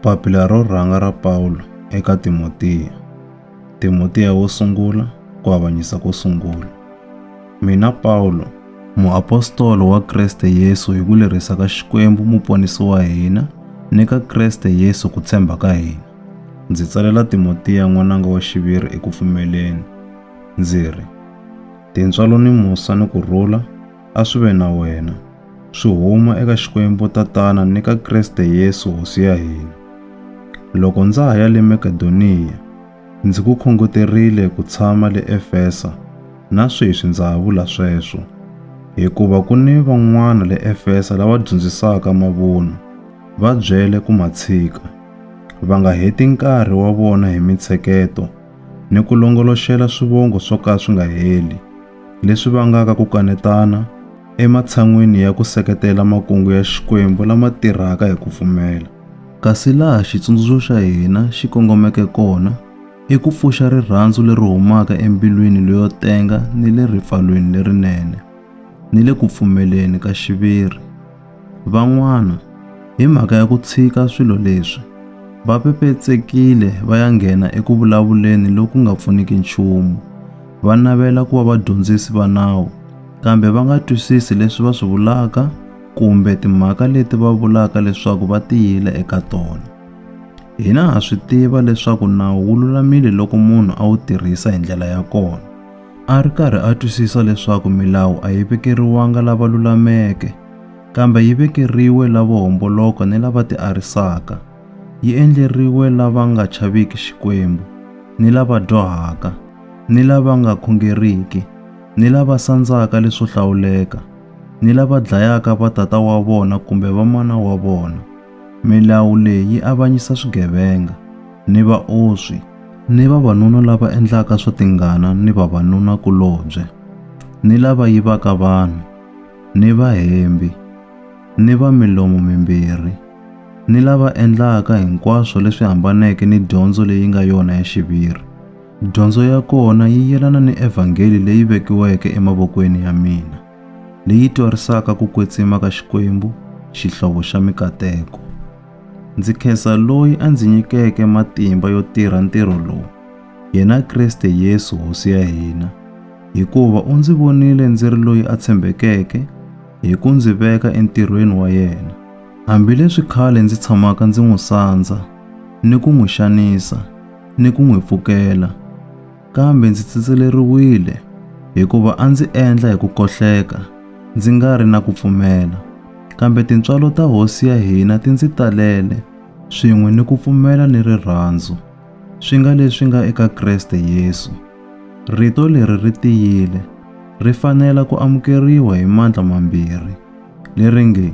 Papila ro rhanga ra Pawulo eka Timotiya. Timotiya wo sungula ku avanyisa ko sungula. Mina Pawulo, muapostolo wa Kreste Yesu hi ku lerisa ka Xikwembu muponisi wa hina ni ka Kreste Yesu ku tshemba ka hina. Ndzi tsalela Timotiya n'wananga wa xiviri eku pfumeleni, ndzi ri, Tintswalo ni musa ni ku rhula a swi ve na wena, swi huma eka Xikwembu Tatana ni ka Kreste Yesu Hosi ya hina. Loko ndza ha ya le Makedoniya, ndzi ku khongoterile ku tshama le Efesa, na sweswi ndza ha vula sweswo, hikuva ku ni van'wana le Efesa lava dyondzisaka mavunwa, va byele ku ma tshika, va nga heti nkarhi wa vona hi mintsheketo ni ku longoloxela swivongo swo ka swi nga heli. leswi vangaka ku kanetana ematshan'weni ya ku seketela makungu ya Xikwembu lama tirhaka hi ku pfumela. Kasi laha xitsundzuxo xa hina xi kongomeke kona i ku pfuxa rirhandzu leri humaka embilwini leyo tenga ni le ripfalweni lerinene, ni le ku pfumeleni ka xiviri. Van'wana, hi mhaka ya ku tshika swilo leswi, va pepetsekile va ya nghena eku vulavuleni loku nga pfuniki nchumu. Va navela ku va vadyondzisi va nawu, kambe va nga twisisi leswi va swi vulaka kumbe timhaka leti va vulaka leswaku va tiyile eka tona. Hina ha swi tiva leswaku nawu wu lulamile loko munhu a wu tirhisa hi ndlela ya kona. A ri karhi a twisisa leswaku milawu a yi vekeriwanga lava lulameke, kambe yi vekeriwe lavo homboloka ni lava tiarisaka. Yi endleriwe lava nga chaviki Xikwembu, ni lava dyohaka, ni lava nga khongeriki, ni lava sandzaka leswo hlawuleka, ni lava dlayaka vatata wa vona kumbe vamana wa vona. Milawu leyi yi avanyisa swigevenga ni vaoswi ni vavanuna lava endlaka swa tingana ni vavanuna-kulobye, ni lava yivaka vanhu, ni vahembi, ni va milomo mimbirhi, ni lava endlaka hinkwaswo leswi hambaneke ni dyondzo leyi nga yona ya xiviri. Dyondzo ya kona yi yelana ni evhangeli leyi vekiweke emavokweni ya mina. leyi twarisaka ku kwetsima ka Xikwembu, Xihlovo xa mikateko. Ndzi khensa loyi a ndzi nyikeke matimba yo tirha ntirho lowu, yena Kriste Yesu Hosi ya hina, hikuva u ndzi vonile ndzi ri loyi a tshembekeke hi ku ndzi veka entirhweni wa yena. Hambileswi khale ndzi tshamaka ndzi n'wi sandza ni ku n'wi xanisa ni ku n'wi pfukela, kambe ndzi tsitseleriwile hikuva a ndzi endla hi ku kohleka ndzi nga ri na ku pfumela kambe tintswalo ta hosi ya hina ti ndzi talele swin'we ni ku pfumela ni rirhandzu swi nga leswi nga eka kreste yesu rito leri ri tiyile ri fanela ku amukeriwa hi mandla mambirhi leri nge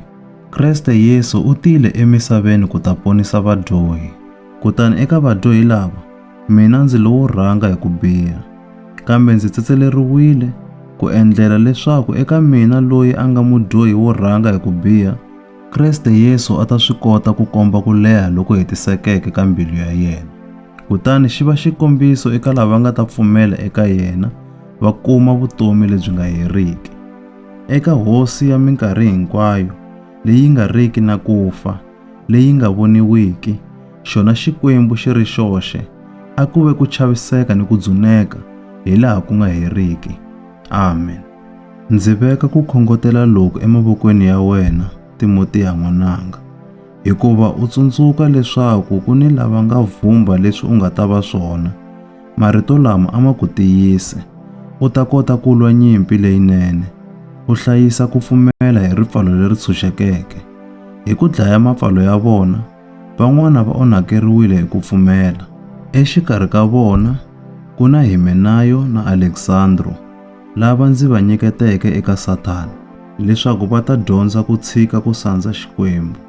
kreste yesu u tile emisaveni ku ta ponisa vadyohi kutani eka vadyohi lava Mina ndzi lowo rhanga hi ku biha, kambe ndzi tsetseleriwile ku endlela leswaku eka mina loyi a nga mudyohi wo rhanga hi ku biha, Kriste Yesu a ta swi kota ku komba ku leha loku hetisekeke ka mbilu ya yena, kutani xi va xikombiso eka lava nga ta pfumela eka yena va kuma vutomi lebyi nga heriki. Eka Hosi ya minkarhi hinkwayo, leyi nga riki na ku fa, leyi nga voniwiki, xona Xikwembu xi ri xoxe, a ku ve ku chaviseka ni ku dzuneka hi laha ku nga heriki. Amen. Ndzi veka ku khongotela loku emavokweni ya wena, Timotiya n'wananga, hikuva u tsundzuka leswaku ku ni lava nga vhumba leswi u nga ta va swona, Marito lama a ma ku tiyise. U ta kota ku lwa nyimpi leyinene. U hlayisa ku pfumela hi ripfalo leri tshunxekeke. Hi ku dlaya mapfalo ya vona, van'wana va onhakeriwile hi ku pfumela. Exikarhi ka vona ku na Himenayo na Aleksandro, lava ndzi va nyiketeke eka Sathana, leswaku va ta dyondza ku tshika ku sandza Xikwembu.